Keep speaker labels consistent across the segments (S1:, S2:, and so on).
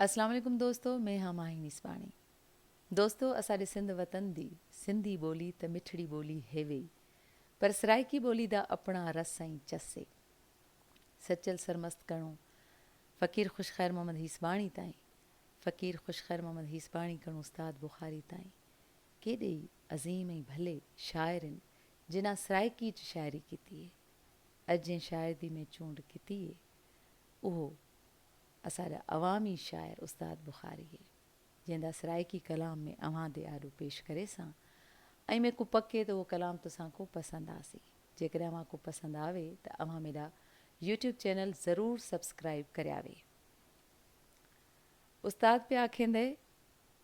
S1: اسلام عليڪم دوستو مين ھان ماھي ميسباڻي دوستو اساڏي سنڌ وطن دي سنڌي ٻولي ته مٺڙي ٻولي ھيوي پر سرائيڪي ٻولي دا اپڻا رس ۽ چس اي سچل سرمست ڪڻو فقير خوش خير محمد ھيسباڻي تائين فقير خوش خير محمد ھيسباڻي ڪڻو استاد بخاري تائين ڪيڏي ئي عظيم ۽ ڀلي شاعر ان جنا سرائيڪي چ شاعري ڪيتي اي اڄ جنھن شاعر دي مين چونڊ ڪيتي اي اھو اسان جا عوامي شاعر استاد بخاريء جنهن دا سرائيڪي ڪلام ۾ اوهان دي آڏو پيش ڪري سان ائين ۾ ڪو پڪي ته اهو ڪلام توسان ڪو پسند آسي جيڪڏهن اوهان ڪو پسند آوي ته اوهان ميڊا يوٽيوب چينل ضرور سبسڪرائيب ڪرياوي استاد پيا آکيندئ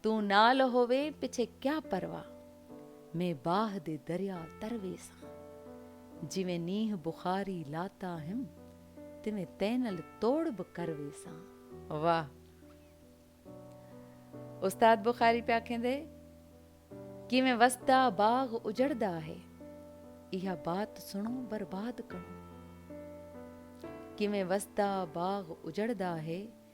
S1: تون نال هووي پڇي ڪيا پروا مين باه دي دريا تر ويسان جيوين نينهن بخاري لاتا هيم تيوين تينل توڙ به ڪر ويسان. واه استاد بخاري پيا کيندي ڪيوين وسدا باغ اجڙدا هي اها بات سڻو برباد ڪڻو ڪيوين وسدا باغ اجڙدا هي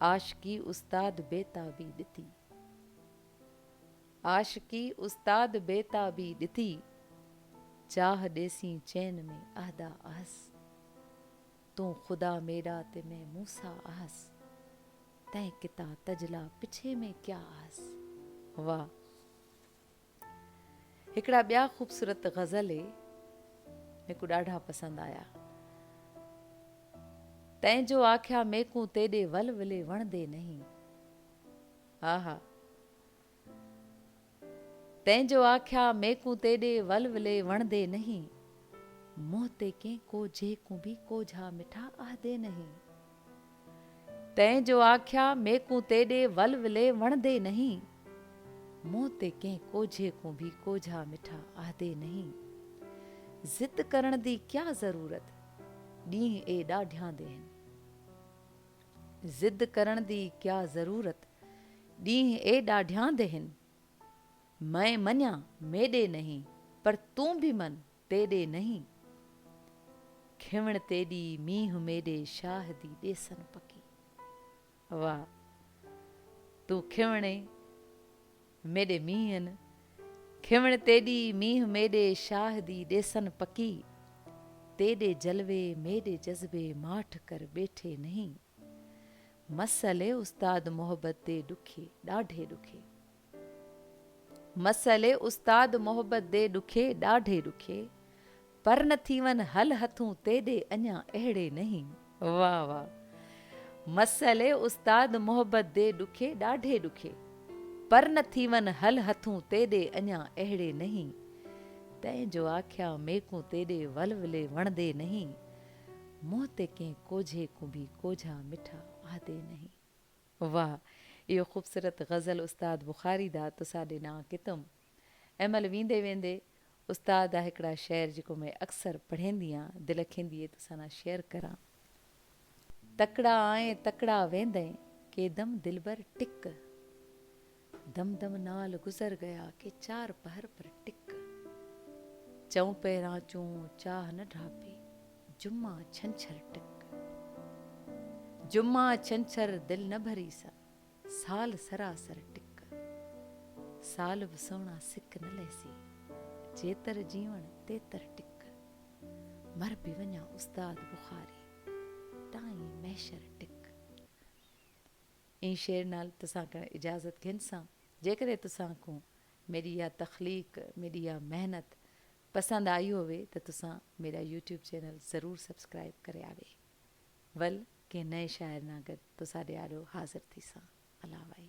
S1: عاشقي استاد بيتابي ڏتي. عاشقي استاد بيتابي ڏتي، چاهه ڏيسين چين ۾ عهدا اهس. تون خدا ميڏا تي مين موسيٰ اهس، تنهن ڪتا تجلا پڇي مين ڪيا اهس. واهه! هڪڙا ٻيا خوبصورت غزل هي ميڪو ڏاڍا پسند آيا تين جو آکيا ميڪون تيڏي ول ولي وڻدي نهين ها ها تين جو آکيا ميڪون تيڏي ول ولي وڻدي نهين منهن تي ڪين ڪو جهيڪون به ڪو جها مٺا آهدي نهين تين جو آکيا ميڪون تيڏي ول ولي وڻدي نهين منهن تي ڪنهن ڪوجهي ڪون ڀي ڪوجها مٺا آهدي نهين ضد ڪرڻ دي ڪيا ضرورت ڏينهن اي ڏاڍياندي هن ضد ڪرڻ دي ڪيا ضرورت ڏينهن اي ڏاڍياندي هن مئين مڃان ميڏي نهين پر تون ڀي من تيڏي نهين کيوڻ تيڏي مينهن ميڏي شاهدي ڏيسن پڪي واهه تون کيوڻي ميڏي مينهن کيوڻ تيڏي مينهن ميڏي شاهدي ڏيسن پڪي تيڏي جلوي ميڏي جذبي ماٺ ڪر ٻيٺي نهين مس علي استاد محبت تي ڏکي ڏاڍي ڏکي. مسئلي استاد محبت دي ڏکي ڏاڍي ڏکي پر نه ٿي ون هل هٿون تيڏي اڃا اهڙي نهين واه واه مسئلي استاد محبت دي ڏکي ڏاڍي ڏکي پر نه ٿي ون هل هٿون تيڏي اڃا اهڙي نهين تنهن جو آکيا ميڪون تيڏي ولولي وڻدي نهين منهن تي ڪنهن ڪوجهي ڪنبي ڪوجها مٺا آهدي نهين. واه اهو خوبصورت غزل استاد بخاري دا تسا ڏنا ڪتم امل ويندي ويندي استاد دا هڪڙا شعر جيڪو مي اڪثر پڙهينديان دل کيندي اي تسا نا شيئر ڪران تڪڙا آئين تڪڙا ويندين ڪيدم دلبر ٽڪ. دم دم نال گذر گيا ڪي چار پهر پر ٽڪ چئون پهران چون چاهه نه ڍاپي جمعا ڇنڇر ٽڪ جمعا ڇنڇر دل نه ڀري سا سال سراسر ٽڪ سال به سهڻا سڪ نه لهسي جيتر جيوڻ تيتر ٽڪ مر به وڃان استاد بخاري ٽائين محشر ٽڪ. اين شعر نال تسان ڪڻ اجازت گهن سان جيڪڏهن تسان کون ميري اها تخليق ميري اها محنت پسند آئي هوي ته تسان ميرا يوٽيوب چينل ضرور سبسڪرائب ڪري آوي ول ڪنهن نئين شاعر نان گڏ تساڏي آڏو حاضر ٿي سان الاوائي.